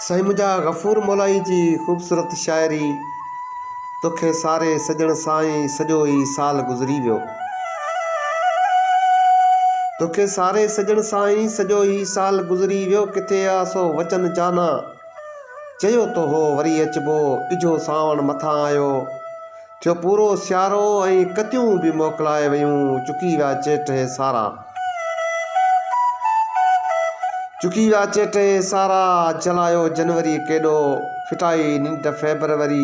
سائين منهنجا غفور مولائي جي خوبصورت شاعري توکي ساري سڄڻ سان ئي سڄو ئي سال گذري ويو توکي ساري سڄڻ سان ئي سڄو ئي سال گذري ويو ڪٿي آ سو وچن جانا چيو تو هو وري اچبو اجهو سانوڻ مٿان آيو ٿيو پورو سيارو ۽ ڪتيون به موڪلائي ويون چڪي ويا چيٽ هي سارا چڪي ويا چيٽ هي سارا جلايو جنوري ڪيڏو ڦٽائي ننڊ فيبروري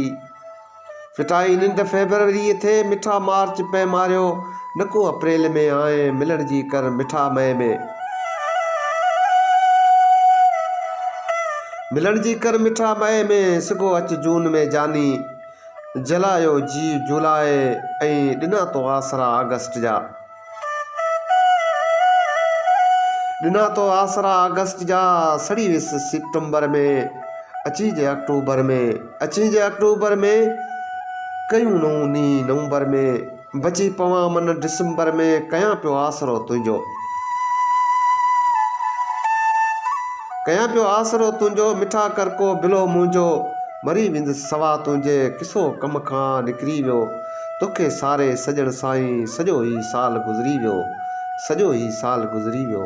ڦٽائي ننڊ فيبروري ٿي مٺا مارچ پئي ماريو نڪو اپريل ۾ آء ملڻ جي ڪر مٺا مئي ۾ ملڻ جي ڪر مٺا مئي ۾ سگهو اچ جون ۾ جاني جلايو جي جولاء ۽ ڏنا تو آسرا آگسٽ جا. ڏنا تو آسرا آگسٽ جا، سڙي ويس سيپٽمبر ۾، اچين جي آڪٽوبر ۾، اچين جي آڪٽوبر ۾، ڪيون نئون ني نومبر ۾. بچي پوان من ڊسمبر ۾، ڪيان پيو آسرو تنهنجو. ڪيان پيو آسرو تنهنجو، مٺا ڪر ڪو بلو منهنجو. مري ويندس سوا تنهنجي، ڪسو ڪم کان نڪري ويو. توکي ساري سڄڻ سائين، سڄو هي سال گذري ويو. سڄو هي سال گذري ويو.